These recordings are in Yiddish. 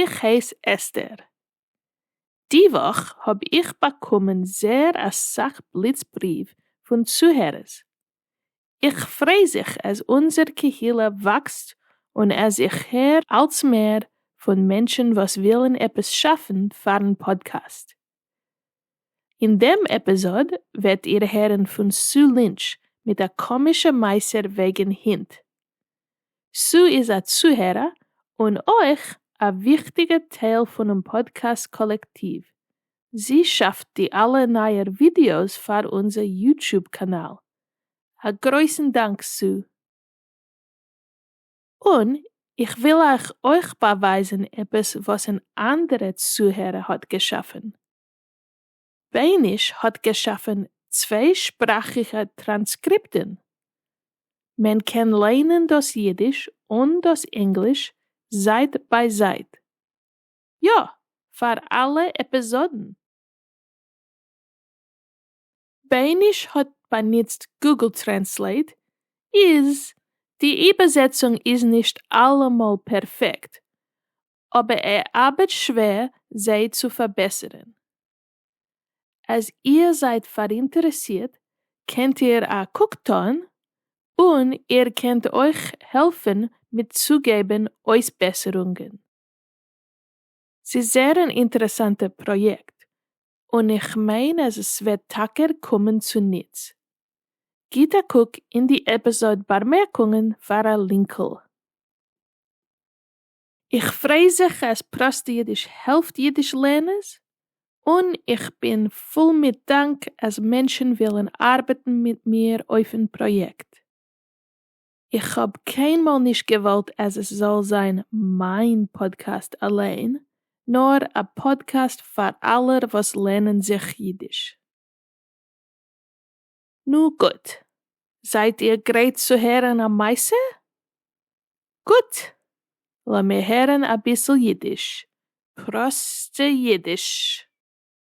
איך הייס אסתר. די וואך האב איך באקומען זייער אסאך בליץ בריוו פון צוהערערס. איך פריי זיך אז אונזער קהילה וואקסט און אז איך הער אלץ מער פון מענטשן וואס ווילן עפעס שאפן פארן פאדקעסט. אין דעם עפיזאד וועט איר הערן פון סו לינטש מיט א קאמישע מעשה וועגן הינט. סו איז א צוהערער און אויך א וויכטיגע טייל פונעם פאדקעסט קאלעקטיוו, זי שאפט די אלע נייער ווידיאוס פאר אונזער יוטוב קאנאל. א גרויסן דאנק סו! און איך וויל אייך אויך באווייזן עפעס וואס אן אנדערע צוהערער האט געשאפן. בייניש האט געשאפן צוויי שפראכיגע טראנסקריפטן. מען קען ליינען דאס אידיש און דאס ענגליש זייט ביי זייט. יא, פאר אלע עפיזאדן. בייניש האט באנוצט גוגל טרענסלעיט איז די איבערזעצונג איז נישט אלעמאל פערפעקט אבער ער ארבעט שווער זיי צו פארבעסערן. אז איר זייט פאראינטערעסירט קענט איר א קוק טאן און איר קענט אויך העלפן מיט צוגעבן אויסבעסערונגען. ס'איז זייער אן אינטערעסאנטע פראיעקט און איך מיין אז עס וועט טאקע קומען צו נוץ. גיט א קוק אין די עפיזאד באמערקונגען פאר א לינקל. איך פריי זיך אז פראסט אידיש העלפט אידיש לערנערס, און איך בין פול מיט דאנק אז מענטשן ווילן ארבעטן מיט מיר אויפן פראיעקט. איך האב קיינמאל נישט געוואלט אז עס זאל זיין מיין פאדקעסט אליין, נאר א פאדקעסט פאר אלע וואס לערנען זיך אידיש. נו גוט, זייט איר גרייט צו הערן א מעשה? גוט! לאמיר הערן אביסל אידיש, פראסטע אידיש.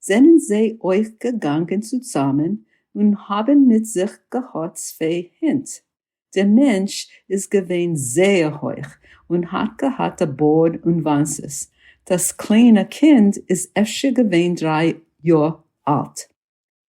זענען זיי אויך געגאנגען צוזאמען און האבן מיט זיך געהאט צוויי הינט, דער מענטש איז געווען זייער הויך און האט געהאט א בארד און וואנצעס, דאס קליינע קינד איז אפשר געווען דריי יאר אלט.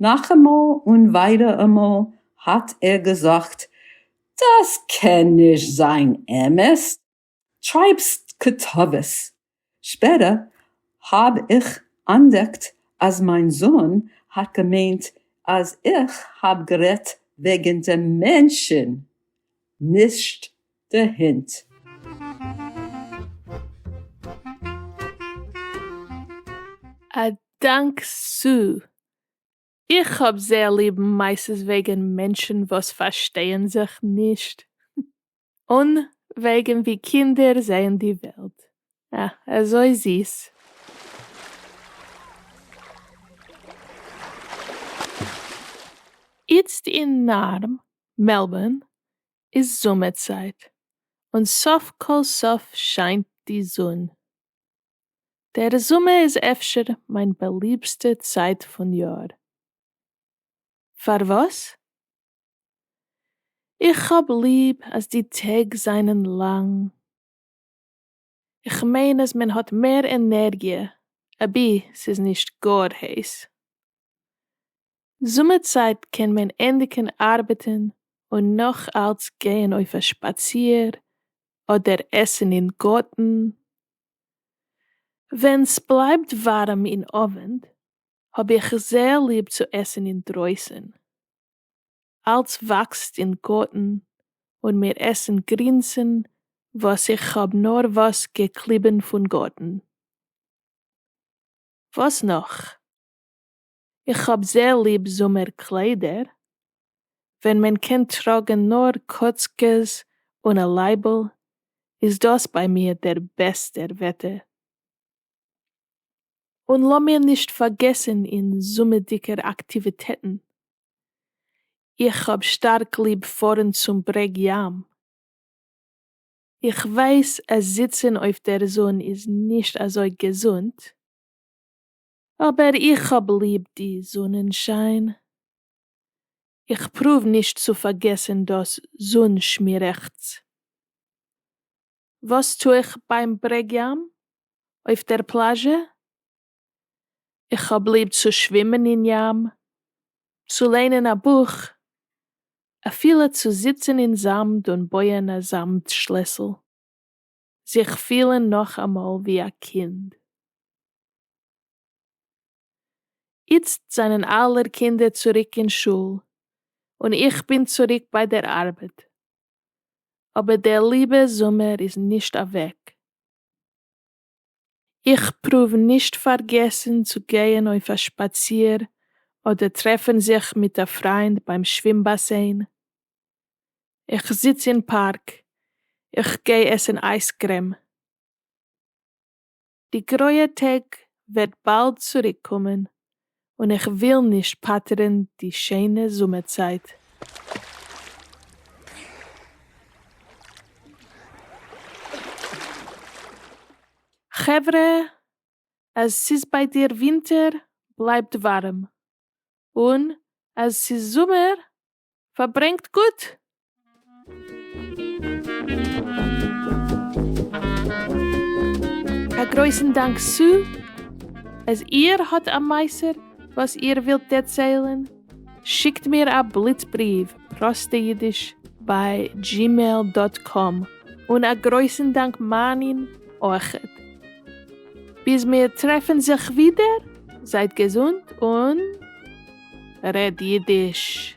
נאכאמאל און וויידעראמאל האט ער געזאגט דאס קען נישט זיין אמת, טרייבסט קטאוועס. שפעטער האב איך אנדעקט אז מיין זון האט געמיינט אז איך האב גערעדט וועגן דעם מענטשן נישט די הונט. א דאנק סאו. איך האב זייער ליב מעשות וועגן מענטשן וואס פארשטייען זיך נישט. און וועגן ווי קינדער זעען די וועלט. אה, אזוי זיס. איצט אין נארם, מעלבארן, איז זומער צייט, און סוף כל סוף שיינט די זון. דער זומער איז אפשר מיין באליבסטע צייט פון יאר. פארוואס? איך האב ליב אז די טעג זענען לאנג. איך מיין אז מען האט מער ענערגיע אבי ס'איז נישט גאר הייס. זומער צייט קען מען ענדיגן ארבעטן און נאך אלץ גייען אויף א שפאציר אדער עסן אין גארטן. ווען סבלייבט ווארעם אין אווענט האב איך זייער ליב צו עסן אינדרויסן. אלץ וואקסט אין גארטן און מיר עסן גרינסן וואס איך האב נארוואס געקליבן פון גארטן. וואס נאך? איך האב זייער ליב זומער קליידער, ווען מען קען טראגן נאר קאצקעס אן א לייבל, איז דאס ביי מיר דער בעסטער וועטער. און לאמיר נישט פארגעסן אין זומערדיגער אקטיוויטעטן, איך האב שטארק ליב פארן צום ברעג ים, איך ווייס אז זיצן אויף דער זון איז נישט אזוי געזונט, אבער איך האב ליב די זונען שיין, איך פרואוו נישט צו פארגעסן דאס זון שמירעכטץ. וואס טו איך ביים ברעג ים? אויף דער פלאזשע? איך האב ליב צו שווימען אין ים, צו ליינען א בוך, אפילו צו זיצן אין זאמד און בויען א זאמד שלעסל. זיך פילן נאכאמאל ווי א קינד. איצט זענען אלע קינדער צוריק אין שול, און איך בין צוריק ביי דער ארבעט. אבער דער ליבע זומער איז נישט אוועק. איך פרואוו נישט פארגעסן צו גייען אויף א שפאציר אדער טרעפן זיך מיט א פריינד ביים שווים באסען, איך זיץ אין פארק, איך גיי עסן אייזקרעם. די גרויע טעג וועט באלד צוריקקומען, און איך וויל נישט פאטערן די שיינע זומער צייט. חברה, אז ס'איז ביי דיר ווינטער, בלייבט ווארעם, און אז ס'איז זומער, פארברענגט גוט! א גרויסן דאנק סא אז איר האט א מעשה וואס איר ווילט דערציילן, שיקט מיר א בליץ בריוו, פראסטע אידיש ביי דזשימעיל דאט קאם, און א גרויסן דאנק מענין אורחת. ביז מיר טרעפן זיך ווידער, זייט געזונט און. רעד אידיש!